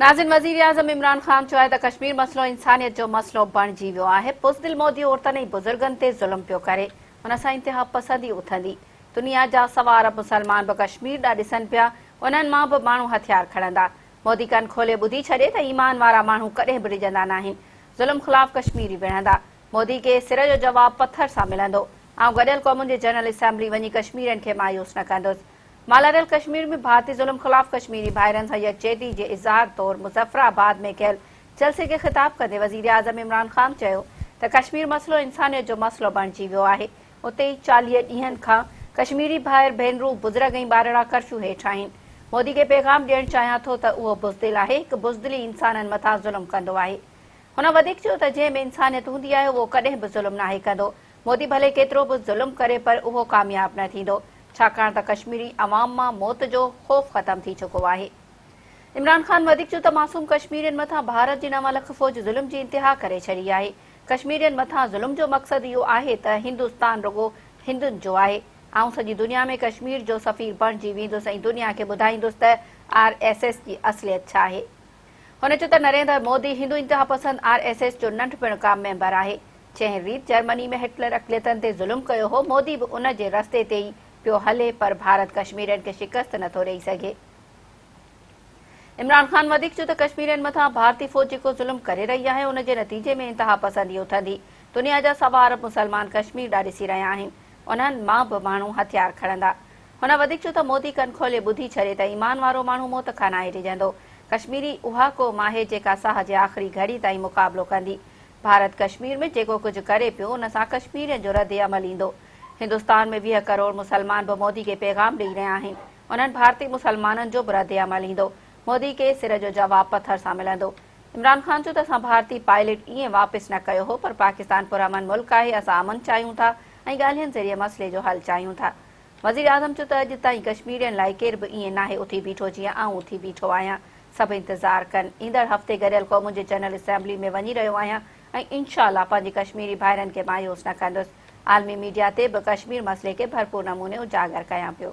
ناظرين وزيراعظم عمران خان چيو آهي ته ڪشمير مسئلو انسانيت جو مسئلو بڻجي ويو آهي، بزدل مودي عورتن ۽ بزرگن تي ظلم پيو ڪري، ان سان انتها پسندي اٿندي، دنيا جا سوا ارب مسلمان به ڪشمير ڏانهن ڏسن پيا، انهن مان به ماڻهو هٿيار کڻندا، مودي ڪن کولي ٻڌي ڇڏي ته ايمان وارا ماڻهو ڪڏهن به ڊڄندا ناهن، ظلم خلاف ڪشميري وڙهندا، مودي کي سر جو جواب پٿر سان ملندو، آئون گڏيل قومن جي جنرل اسيمبلي وڃي ڪشميرين کي مايوس نه ڪندس، مالاريل ڪشمير ۾ ڀارتي ظلم خلاف ڪشميري ڀائرن سان يڪجهتي جي اظهار طور مظفر آباد ۾ ڪيل جلسي کي خطاب ڪندي وزيراعظم عمران خان چيو ته ڪشمير مسئلو انسانيت جو مسئلو بڻجي ويو آهي اتي ئي چاليهه ڏينهن کان ڪشميري ڀائر ڀينرون بزرگ ۽ ٻارڙا ڪرفيو هيٺ آهن مودي کي پيغام ڏيڻ چاهيان ٿو ته اهو بزدل آهي هڪ بزدل ئي انسانن مٿان ظلم ڪندو آهي هن وڌيڪ چيو ته جنهن ۾ انسانيت هوندي آهي اهو ڪڏهن به ظلم ناهي ڪندو مودي ڀلي ڪيترو به ظلم ڪري پر اهو ڪامياب نه ٿيندو ڇاڪاڻ ته ڪشميري عوام مان موت جو خوف ختم ٿي چڪو آهي. عمران خان وڌيڪ چيو ته معصوم ڪشميرين مٿان ڀارت جي نو لک فوج ظلم جي انتها ڪري ڇڏي آهي. ڪشميرين مٿان ظلم جو مقصد اهو آهي ته هندستان رڳو هندن جو آهي. آئون سڄي دنيا ۾ ڪشمير جو سفير بڻجي ويندس ۽ دنيا کي ٻڌائيندس ته آر ايس ايس جي اصليت ڇا آهي. هن چيو ته نريندر مودي هندو انتهاپسند آر ايس ايس جو ننڍپڻ کان ميمبر آهي، جنهن ريت جرمني ۾ هٽلر اقليتن تي ظلم ڪيو هو، مودي به ان جي رستي تي ئي پيو هلي پر ڀارت ڪشميرين کي شڪست نه ٿو ڏئي سگهي. عمران خان وڌيڪ چيو ته ڪشميرين مٿان ڀارتي فوج جيڪو ظلم ڪري رهي آهي ان جي نتيجي ۾ انتهاپسندي اٿندي، دنيا جا سوا ارب مسلمان ڪشمير ڏانهن ڏسي رهيا آهن، انهن مان به ماڻهو هٿيار کڻندا، هن وڌيڪ چيو ته مودي ڪن کولي ٻڌي ڇڏي ته ايمان وارو ماڻهو موت کان ناهي ڊڄندو، ڪشميري اها قوم آهي جيڪا ساهه جي آخري گهڙي تائين مقابلو ڪندي، ڀارت ڪشمير ۾ جيڪو ڪجهه ڪري پيو ان سان ڪشميرين جو رد عمل ايندو، هندستان ۾ ويهه ڪروڙ مسلمان به مودي کي پيغام ڏئي رهيا آهن، انهن ڀارتي مسلمانن جو به رد عمل ايندو، مودي کي سر جو جواب پٿر سان ملندو. عمران خان چيو ته اسان ڀارتي پائليٽ ايئن واپس نه ڪيو هو پر پاڪستان پرامن ملڪ آهي، اسان امن چاهيون ٿا ۽ ڳالهين ذريعي مسئلي جو حل چاهيون ٿا. وزيراعظم چيو ته اڄ تائين ڪشميرين لاء ڪير به ائين ناهي اٿي بيٺو جيئن آئون اٿي بيٺو آهيان، سڀ انتظار ڪن، ايندڙ هفتي گڏيل قومن جي جنرل اسيمبلي ۾ وڃي رهيو آهيان ۽ انشاء الله پنهنجي ڪشميري ڀائرن کي مايوس نه ڪندس، عالمي ميڊيا تي به ڪشمير مسئلي کي ڀرپور نموني اجاگر ڪيان پيو.